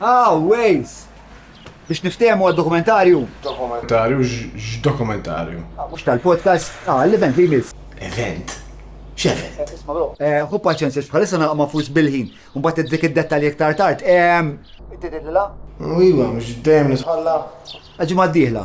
Ah, Waze! Biex niftehmu għad-dokumentarju? Dokumentarju? X'dokumentarju? Mhux tal-podcast, ah, l-event li jmiss. Event? X'event? Isma' bro. Eh, ħu paċenzja bħalissa nagħlaq ma' fus bil-ħin, u mbagħad iddik id-dettalji iktar tard. Ehm. Ittidillilha? Iva, mhux dejjem nitħalla. Għal-ġimgħa d-dieħla.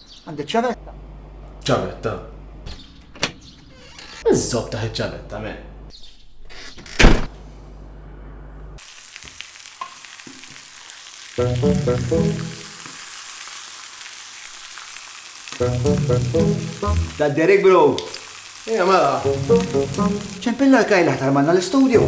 Għandi ċavetta. Ċavetta? Iżżob taħ iċ-ċavetta, me. Da Derek Bro. Ija, mela. ċempilla l-kajla ħtar manna l-studio.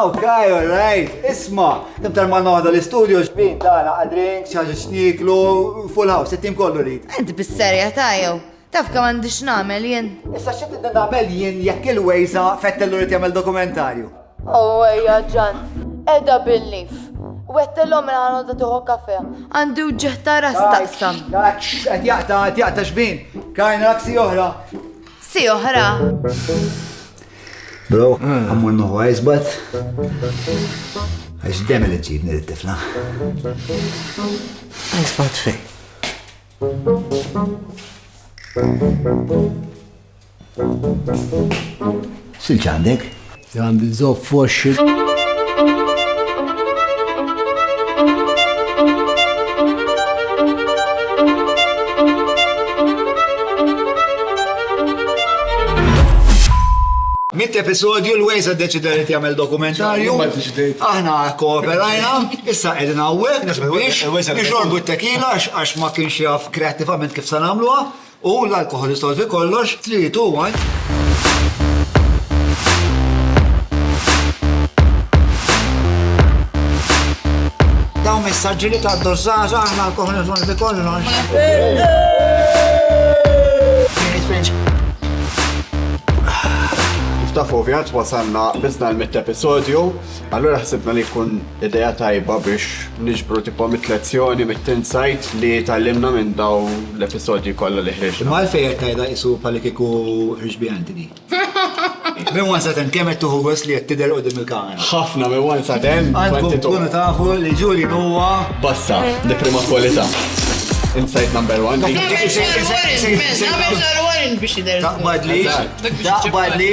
Okay, all right. Isma, kemm tal-ma noħda l-istudio xbin tagħna għal drinks, xi ħaġa xniklu, full house, it-tim kollu rrid. Int bis-serja ta' jew. Taf kemm għandix nagħmel jien. Issa xi tidna nagħmel jien jekk il-wejża fettellu rrid jagħmel dokumentarju. Oh, ejja ġan. Edha bil-lif. Wettelhom mela ħanodda tuħu kafe. Għandu ġeħta ras taqsam. Qed jaqta, qed jaqta xbin. Kajna raksi oħra. Si oħra. Bro, għammur nuħu għajzbat. Għax demel iġibni l-tifla. Għajzbat fej. Thank you. Silġ għandek? Għandi zopp f'woxxi. Mitt episodju l-Waze deċida li jagħmel dokumentarju. Aħna kooperajna, issa qegħdin hawnhekk biex nixorbu t-tekila għax ma kienx jaf kreattivament kif se nagħmluha. U l-alkoħol isolvi kollox, tliet u Daw messaġġi li ta' dozzaza aħna l-koħni isolvi kollox. Kif taf ovvjat wasanna bizna l-mitt episodju, Allura ħsibna li jkun idea tajba biex niġbru tipo mit-lezzjoni mit-tinsight li tgħallimna minn daw l-episodji kollha li ħriġna. Imma għalfejn qed tgħidha qisu bħalli kieku ħriġt biha inti di? Minn one sa ten kemm qed tieħu gost li qed tidher quddiem il-kamera? Ħafna minn one sa ten. Għandkom tkunu tafu li Julian huwa bassa di prima kwalità. Insight number one. Taqbad li. Taqbad li.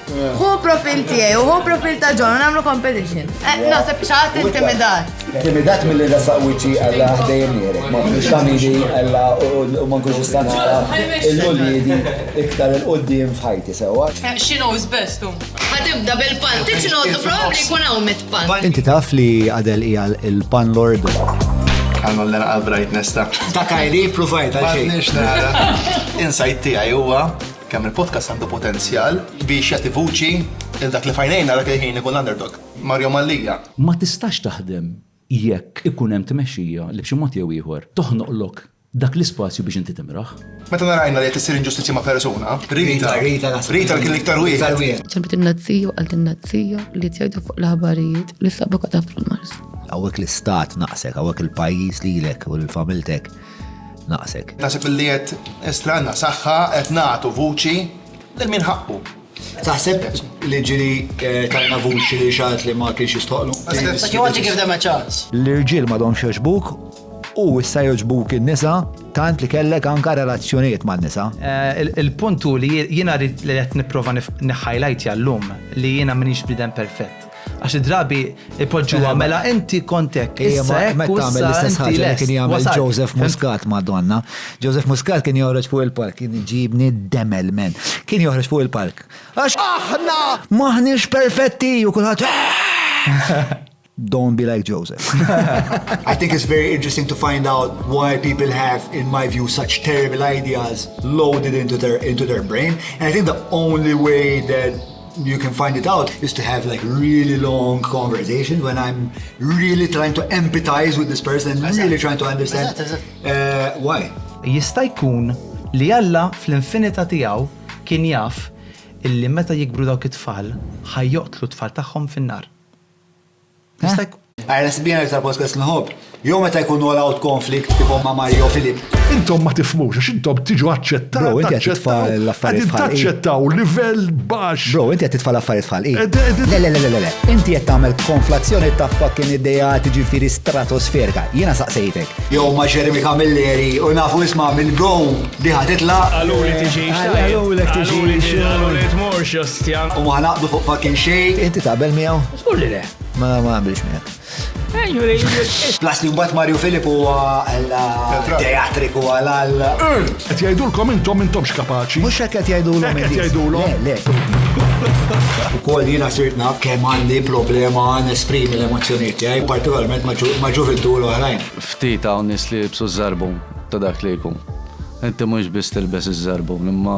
Hu profil tiegħi u hu profil ta' John nagħmlu competition. Eh, naħseb xaħat intimidat. Intimidat mill-li rasaq wiċċi għalla ħdejjem nirek, ma nkunx kamili għalla u ma nkunx istanara il-uliedi iktar il-qoddim f'ħajti sewa. Eh, she knows best u. Għatibda bil-pant, tiċ noqdu probabli jkun hawn mit pant. Inti taf li għadel hija il-pan lord. Għannu l-lena għal-brightness ta' ta' kajli provajt għal xejn. Insajt tiegħi huwa Kemm il-podcast għandu potenzjal biex jagħti vuċi lil dak li f'għajnejna dak il-ħin ikun l-underdog, Mario Mallia. Ma tistax taħdem jekk ikun hemm tmexxija li b'xi mod jew ieħor toħnoqlok dak l-ispazju biex inti timraħ. Meta narajna li qed issir inġustizzja ma' persuna, Rita, Rita kien l-iktar wieħed. Ġabet in-nazzija u qaltilna n-nazzija li qed jgħidu fuq l-aħbarijiet li sabu qatgħa fil-Mars. Hawnhekk l-istat naqsek, hawnhekk il-pajjiż lilek u lil familtek. Naqsek. Nasib li qed estranna saħħa qed nagħtu vuċi lil min ħaqqu. Taħseb li ġili eh, tajna vuċi li xaħat li ma kienx jistħoqlu? But you want to give them a chance. L-irġiel ma domx joġbuk u issa joġbuk in-nisa tant li kellek anka relazzjonijiet ma' nisa. Eh, il-puntu li jiena rrit li qed nipprova niħħajlajt jallum li jiena minix bidem perfett. Għax id-drabi ipoġġuha mela inti kont hekk. Issa hekk meta tagħmel l-istess ħaġa li kien jagħmel Joseph Muscat Madonna. Joseph Muscat kien joħroġ fuq il-park, kien iġibni demel men. Kien joħroġ fuq il-park. Għax aħna maħniex perfetti u kulħadd Don't be like Joseph. I think it's very interesting to find out why people have, in my view, such terrible ideas loaded into their into their brain. And I think the only way that You can find it out is to have like really long conversation when I'm really trying to empathize with this person and really trying to understand uh, why. Jista' jkun li Alla fl-infinita tiegħu kien jaf illi meta jikbru dawk it-tfal ħajjoqtlu t-tfal tagħhom fin-nar. Għajna sbjena ta' podcast nħob. Jo meta jkun all out konflikt kif ma Mario Filip. Intom ma tifmux, għax intom tiġu aċċettaw. Bro, inti għatitfa l-affarijiet fħal. Taċċettaw livell bax. Bro, inti għatitfa l-affarijiet fħal. Le, le, le, le, le. Inti għat tamel konflazzjoni ta' fucking ideja tiġi firi stratosferika. Jena saqsejtek. Jo ma Jeremy Camilleri, u nafu isma minn bro, diħa titla. Għallu li tiġi xtajja. Għallu li tiġi xtajja. Għallu li tiġi xtajja. U ma ħanaqdu fuq fucking xej. Inti tabel miegħu. Żgur li le. Ma ma għamilx miegħek. Plus li mbagħad Mario Filip huwa teatriku għal għal. Qed jgħidulkom intom intomx kapaċi. Mhux hekk qed jgħidulhom. Qed jgħidulhom. Le, le. Ukoll jiena sirt naf kemm għandi problema nesprimi l-emozzjonijiet tiegħi, partikolarment ma' ġuvintu l-oħrajn. Ftit hawn nies li jibsu żarbum ta' dak li jkun. Inti mhux biss tilbes iż-żarbum, imma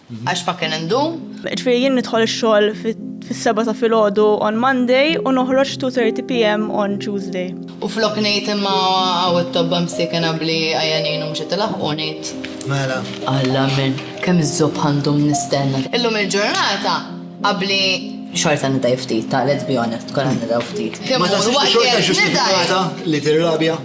Għax ma kien indum. Ġifieri jien nidħol ix-xogħol fis-seba' ta' filgħodu on Monday u noħroġ 2:30 PM on Tuesday. U flok ngħid imma hawn it-tobba msiekin abbli għajanin u mhux qed ilaħħqu ngħid. Mela. Alla min, kemm iż-żobħ għandhom nistenna. Illum il-ġurnata abbli xorta nidgħi ftit, ta' let's be honest, kollha nidgħu ftit. Ma taħsibx li xorta ġustifikata li tirrabja?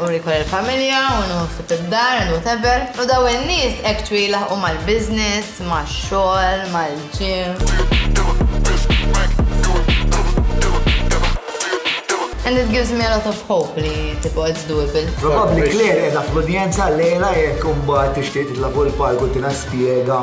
U jkun il-familja, u nħossib id-dar, and whatever. U daw in-nies actually jlaħqu mal-business, max-xogħol, mal-gym. And it gives me a lot of hope li tipo it's doable. Probabbli Claire qiegħda fl-udjenza llejla jekk imbagħad tixtieq titla' fuq il-palk u tina spjega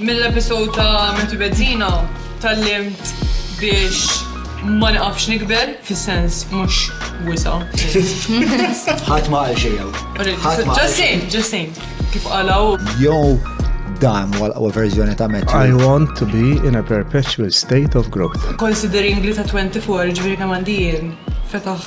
Mill-episode ta' Matthew Bezzina tgħallimt biex ma niqafx nikber, fis-sens mhux wisa'. Ħadd ma qal xejn hawn. Ħadd ma qal Just saying, just saying. Kif qalha hu. Jew dan huwa l-qwa verżjoni ta' Matthew. I want to be in a perpetual state of growth. Considering li ta' 24 ġifieri kemm għandi jien, fetaħ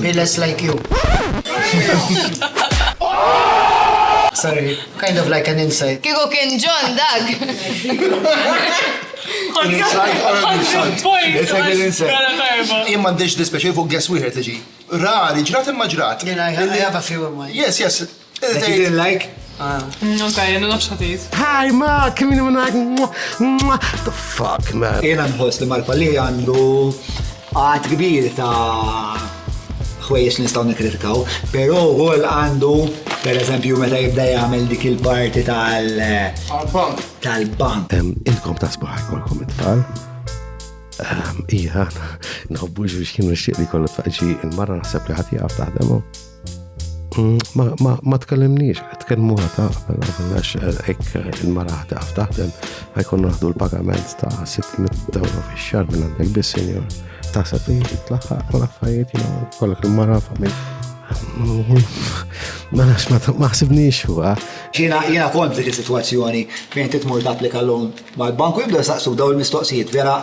Be less like you. Sorry, kind of like an insult. Kieku kien John dak! Jien m'għandix dispjaċir fuq guest wieħed li ġie. Rari, ġrat imma ġrat. Jien I have a few in mind. Yes, yes. Like. Ok, jenna nafx ħatijt. Hi, ma, kemini minnak. The fuck, man. Jena nħos li mal-palli għandu għad kbir ta' ħwejjex nistaw nikritkaw, pero għol għandu, per eżempju, meta jibda jgħamil dik il-parti tal-bank. Tal-bank. Inkom ta' sbaħ, kolkom it-tfal. Ija, nħobbu ġuġ kienu xieqli kollu tfaqġi il-marra naħseb li ħati għaf taħdemu. Mm, ma, ma, ma tkellimniex, tkellmu għata, għax eh, ek eh, il-mara ħda taħdem, għajkun naħdu l-pagament ta' 600 euro fi xar minn għandek bis senjor ta' safi, tlaħħa, u l-affarijiet, jina, kollok il-mara famil. Ma nafx ma taħsibniex huwa. Jiena jiena kont dik is-sitwazzjoni fejn titmur tapplika l-lum mal-banku jibda saqsu daw il-mistoqsijiet vera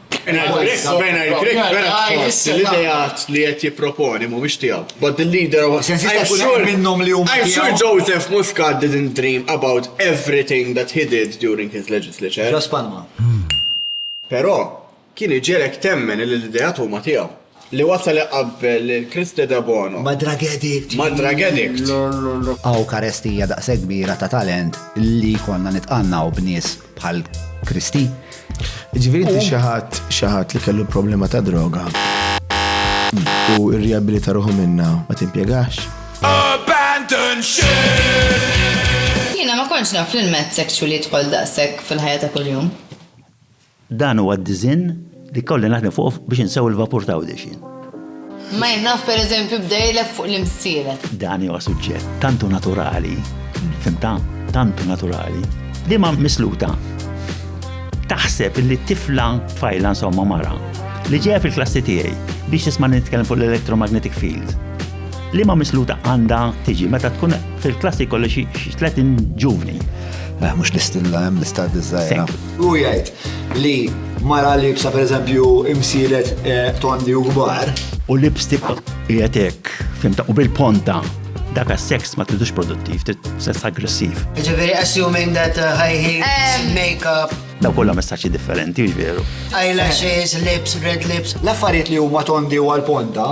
L-ideat li qed jipproponi mhumiex tiegħu. But the leader was I'm sure minnhom li huma. I'm sure Joseph Muscat didn't dream about everything that he did during his legislature. Ġas Palma. Però kien iġelek temmen li l-ideat huma tiegħu. Li wasal iqabbel lil Christe Debono ma' drug addict! Ma' drug addict! Hawn karestija daqshekk kbira ta' talent li jkollna nitqannaw b'nies bħal Christe. Jiġifieri inti xi ħadd xi ħadd li kellu problema ta' droga u rriabilita ruħu minnha ma timpjegax? Abandoned ship! Jiena ma kontx naf li l-mezz sexual jidħol daqshekk fil-ħajja ta' kuljum. Dan huwa d-diżinn li kolli naħdem fuqu biex insewwi l-vapur ta' Għawdex jien. Mike naf per eżempju bda jilgħeb fuq l-imsielet. Dan huwa suġġett tant hu naturali, fimtha? Tant hu naturali. Liema misluta taħseb li tifla tfajla insomma mara li ġejja fil-klassi tiegħi biex tisma' nitkellem fuq l-electromagnetic field. Liema misluta għandha tiġi meta tkun fil-klassi kolli xi 30 ġuvni. Mhux l-istilla hemm l-istaddi żgħira. Hu jgħid li mara libsa pereżempju imsiret eh, tondi u kbar. U lipstick qiegħed hekk, fimta, u bil-ponta dak sex ma tridux produttiv, trid sess aggressiv. Ġifieri assuming that uh, high heels, um, makeup. Daw kollha messaġġi differenti, veru. Eyelashes, lips, red lips. L-affarijiet li huma tondi u għal-ponta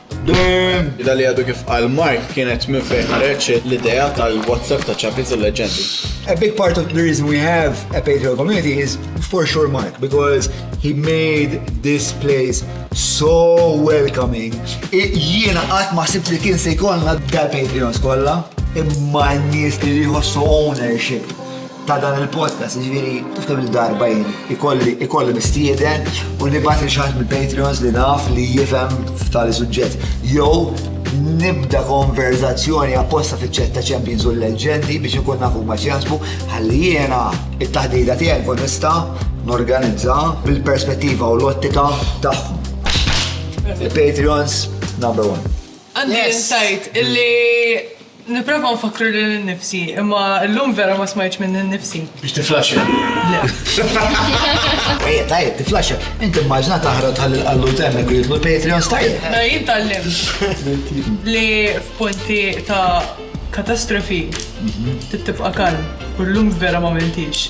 Id-għida li għadu kif qal Mark kienet minn fejn ħareġ l-idea tal-WhatsApp ta' Champions u Leġendi. A big part of the reason we have a Patreon community is for sure Mark because he made this place so welcoming. Jiena qatt ma sibt li kien se jkollna dal Patreon skolla imma n-nies li jħossu ownership ta' dan il-podcast, ġviri, tiftem li darba jien, ikolli, ikolli mistieden u nibat li xaħat mill-Patreons li naf li jifem f'tali suġġett. Jow, nibda konverzazzjoni apposta fiċ-ċet ta' Champions u l-leġendi biex ikun nafu ma ċjasbu, għalli jena it-taħdida tiegħi kun nista' norganizza bil-perspettiva u l-ottika tagħhom. Il-Patreons number one. Għandi yes. insight illi Nipprova nfakkru lil innifsi, imma llum vera ma smajtx minni nnifsi. Biex tiflaxxa? Le. Ejja, tajjeb, tiflaxxa. Int immaġina taħrab tħalli l-qallut hemmhekk u jidħlu l-Patreons, tajjeb. Mela jien tgħallimt li f'punti ta' katastrofi trid tibqa' kalm u llum vera ma mentix.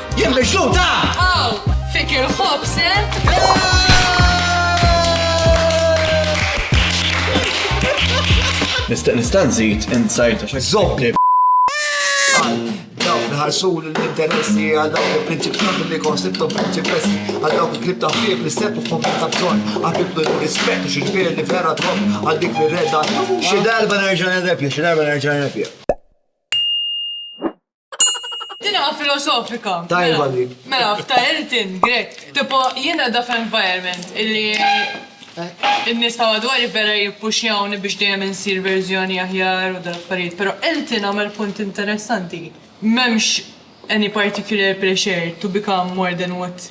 Jien mixluta! Aw, fik il-ħobs, Nista' nista' nżid insajta xi żobli. Dawk nħarsu l-interessi għal dawk il-prinċipjoni li konsibtu prinċipessi għal dawk il-klib ta' ħfieb li sepp u kompli ta' bżonn għabibdu l-rispett u xil-fir li vera trom għal dik li reda xi darba nerġa' nerrepja, xi darba nerġa' nerrepja. Tinqla' filosofika. Tajba dik. Mela, f'ta' Elton, Grech. Tipo, jien qiegħda f'environment illi n-nies ta' madwari vera jippuxjawni biex dejjem insir verżjoni aħjar u dal-affarijiet, però Elton għamel punt interessanti. M'hemmx any particular pressure to become more than what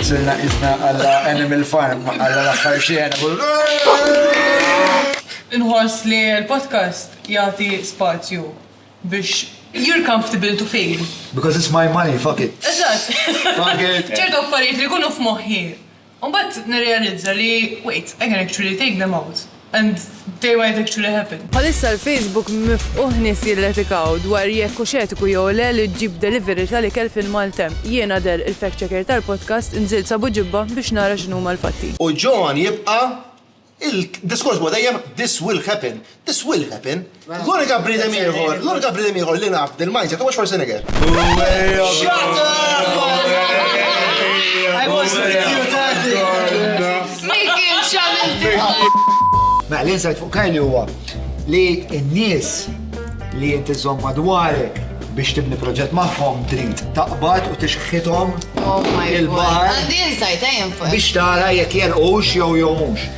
Sirna qisna alla Animal Farm, alla l-aħħar xena. Inħoss li l-podcast jagħti spazju biex you're comfortable to fail. Because it's my money, fuck it. Eżatt. Fuck it. Ċertu affarijiet li jkunu f'moħħi u mbagħad nirrealizza li wait, I can actually take them out. And they might actually happen. Bħalissa l-Facebook mifqugħ nies jirretikaw dwar jekk hux etiku jew le li ġġib delivery tal-ikel fil-maltemp. Jien Adel, il-fact checker tal-podcast, nżilt s'Abu Ġibba biex nara x'inhuma l-fatti. U John jibqa' il-diskors huwa dejjem this will happen, this will happen. L-unika bniedem ieħor, l-unika bniedem ieħor li naf dil-mindset huwa Schwarzenegger. Shut up! I was with you, Tati! Mickey, xamil! Mela, l-insight fuq Kylie huwa li n-nies li inti żomm madwarek biex tibni proġett magħhom trid taqbad u tixħithom oh il-baħar. Għandi insight, ejjem fuq. Biex tara jekk jelqux jew jew mhux.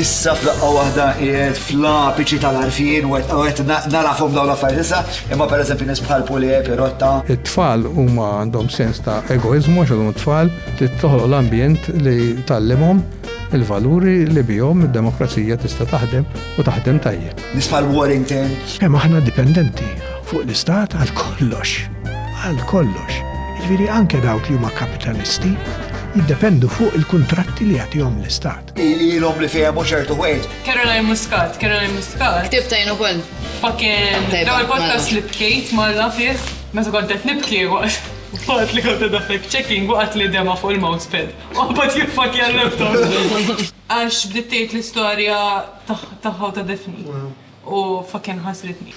Issa f'daqqa waħda qiegħed fl-apiċi tal-għarfien u qed narafhom dawn l-affarijiet issa, imma pereżempju nies bħal Pulè, Pirotta. It-tfal huma għandhom sens ta' egoiżmu għax għadhom it-tfal, trid toħloq l-ambjent li tgħallimhom il-valuri li bihom id-demokrazija tista' taħdem u taħdem tajjeb. Nies bħal Warrington. Kemm aħna dipendenti fuq l-istat għal kollox, għal kollox. Jiġifieri anke dawk li huma kapitalisti jiddependu fuq il-kuntratti li jagħtihom l-istat. Ilhom li fehmu ċertu wejt. Caroline Muscat, Caroline Muscat. Ktib tajn ukoll. Fucking l-ewwel podcast li bkejt marra fih meta kont qed nibki waqt waqt li kont qed fact checking waqt li dema fuq il-mousepad. Oħbad jiffak jallabtom. Għax bdiet tgħid l-istorja tagħha ta' Daphne u fucking ħasritni.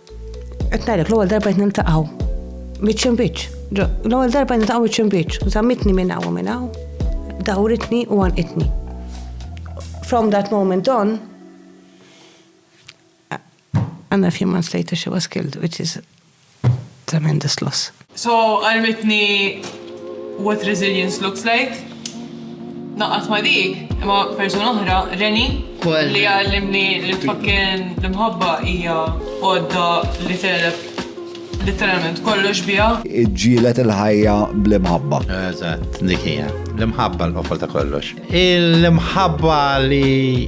Qed ngħidlek l-ewwel darba qed niltaqgħu. Biċċ imbiċċ. L-ewwel darba niltaqgħu biċċ imbiċċ. Żammitni minn hawn minn hawn. Dawritni u għanqitni. From that moment on, and a few months later she was killed, which is tremendous loss. So għallimitni what resilience looks like. Ngħaqqad ma' dik, imma persuna oħra, Reni, li għallimni li fucking l-imħabba hija għodda li tegħleb literalment kollox biha. Iġġielet il-ħajja bl-imħabba. Eżatt, dik hija. L-imħabba l-qofol ta' kollox. L-imħabba li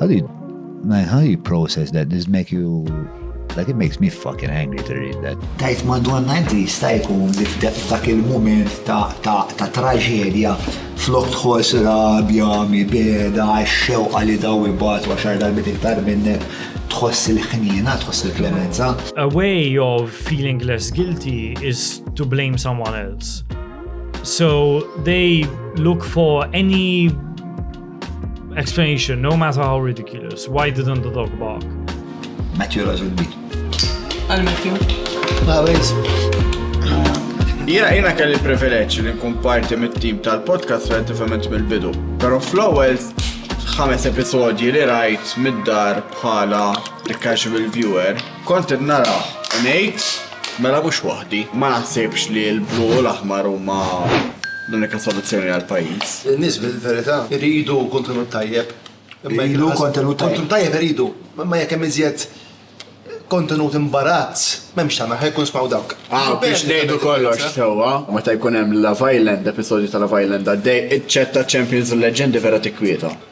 How do you, man, how do you process that? Does make you, like it makes me fucking angry to read that. Tajt madonna inti jista' jkun dak il-moment ta' traġedja flok tħoss rabja, mibeda, xewqa li daw ibat għaxar darbit iktar minnek tħoss il-ħnina, tħoss il-klemenza. A way of feeling less guilty is to blame someone else. So they look for any Explanation, no matter how ridiculous, why didn't the dog bark? Matthew raġun dik. Għal Matthew? Għawez. Jena jena kelli privileġġ li nkun parti mit-tim tal-podcast relativament mill-bidu. Pero fl-ewwel ħames episodji li rajt mid-dar bħala casual viewer Kont qed narah u ngħid, mela mhux waħdi. Ma naħsibx li l-blu u l-aħmar huma l-unika soluzzjoni għall-pajjiż. In-nies fil-verità jridu kontenut tajjeb. Iridu kontenut tajjeb. Kontenut tajjeb iridu, imma jekk hemm iżjed kontenut imbarazz, m'hemmx tagħmel aħjar jkun jismgħu dawk. Hawn biex ngħidu kollox sewwa, meta jkun hemm Love Island, episodju ta' Love Island għaddej, iċ-chat ta' Champions u l-Leġġendi vera tikkwieta.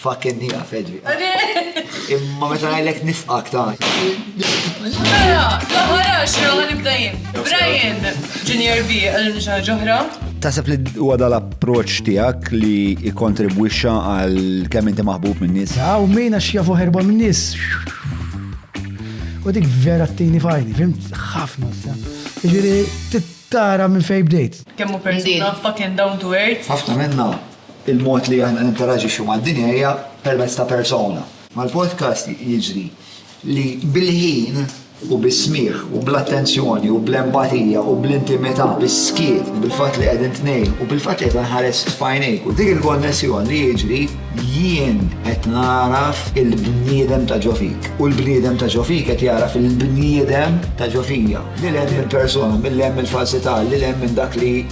Fucking hija fedri. Imma meta ngħidlek nifqak ta' Mela, l-aħħar għaxra ħa nibda jien. Brian, Junior B, għallu xi ħaġa oħra. Tasab li huwa dal-approċċ tiegħek li jikkontribwixxa għal kemm inti maħbub min-nies. Aw min għax jafu ħerba min-nies. U dik vera t-tini fajni, fimt ħafna sa. Ġiri, tara minn fej bdejt. Kemmu persuna fucking down to earth. Ħafna minna. Il-mod li aħna ninteraġixxu mad-dinja hija permezz ta' persona. Mal-podcast jiġri li bil-ħin u bis-smigħ u bl-attenzjoni u bl-empatija u bl-intimità, bis-skiet, bil-fatt li qegħdin tnejn u bil-fatt li qed inħares f'għajnejk u dik il-konnessjoni li jiġri, jien qed nagħraf il-bniedem ta' ġo fik u l-bniedem ta' ġo fik qed jagħraf il-bniedem ta' ġo fija. Lil hemm minn persona, mil hemm mill-falsità, lil hemm minn dak li.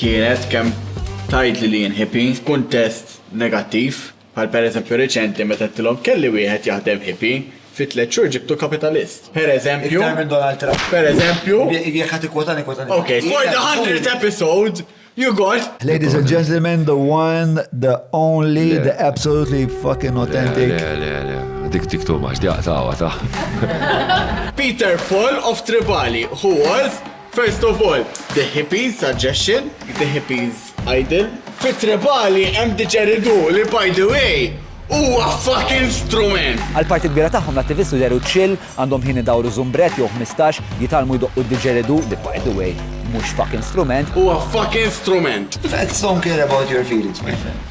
kienet kemm tgħidli li jien hippie f'kuntest negattiv, bħal pereżempju riċenti meta għedtilhom kelli wieħed jaħdem hippie, fi tliet xhur ġibtu kapitalist. Pereżempju. Iktar minn Donald Trump. Pereżempju. Jekk ħa tikkwotani kwotani. Ok, for the hundredth episode, you got. Ladies and gentlemen, the one, the only, the absolutely fucking authentic. Le, le, le, le. Dik dik too much, di għaqtawa ta'. Peter Fall of Tribali, who was First of all, the hippies suggestion, the hippies idol. Fi tribali hemm diġeridu li by the way huwa fucking strument! Għal parti kbira tagħhom l-attivisti deru chill, għandhom ħin idawru żumbrett jew ħmistax, jitgħallmu jdoqqu d-diġeridu li by the way mhux fucking strument. Huwa fucking strument! Facts don't care about your feelings my friend.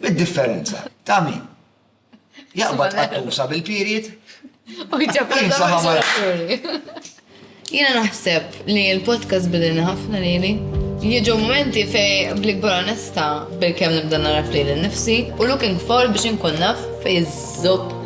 Id-differenza ta' min? Jaqbad qattusa bil-period? U jġab Jena naħseb li l-podcast bidilni ħafna lili. Jieġu momenti fej bl-ikbar onesta bil-kem nibda naraf li l-nifsi u looking for biex nkun naf fej zob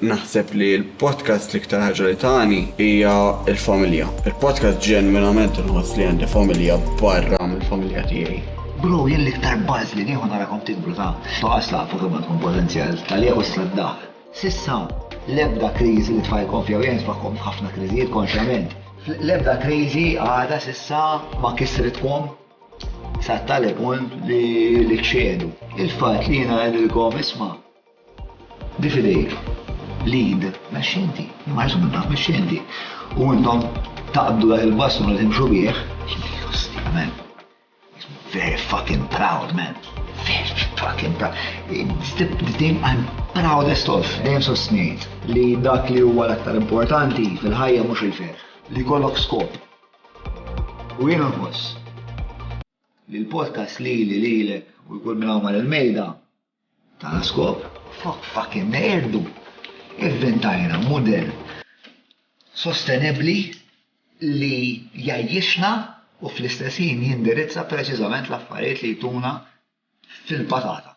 Naħseb li l-podcast l-iktar ħaġa li tani hija l-familja. Il-podcast ġenwinament inħoss li għandi familja barra mill-familja tiegħi. Bro, jien l-iktar buzz li nieħu narakom tikbru ta' toqas tafu kemm għandkom potenzjal tal-jew is-sladdah. Sissa, l-ebda kriżi li tfajkom fija jien tfaħkom f'ħafna kriżijiet konxjament. L-ebda kriżi għada sissa ma kisritkom sa tali punt li kxedu. Il-fatt li jiena għedilkom isma' Di f'idejk l-id mexxenti, li ma jgħidx minnha, mexxenti, u intom taqbdu dak il-bastun u timxu bih, Jiddi ħosni, man. Makes me very fucking proud, man. Very fucking proud. It's the thing I'm proudest of. Dejjem sostnejt li dak li huwa l-aktar importanti fil-ħajja mhux il-ferħ, li jkollok skop. U jien nħoss li l-podcast lili, lilek u lil kull min hawn mal-mejda, Taha skop, fuck fucking neqirdu, ivvintajna mudell sostenibbli li jgħajjixna u fl-istess ħin jindirizza preċiżament l-affarijiet li jtuna fil-patata.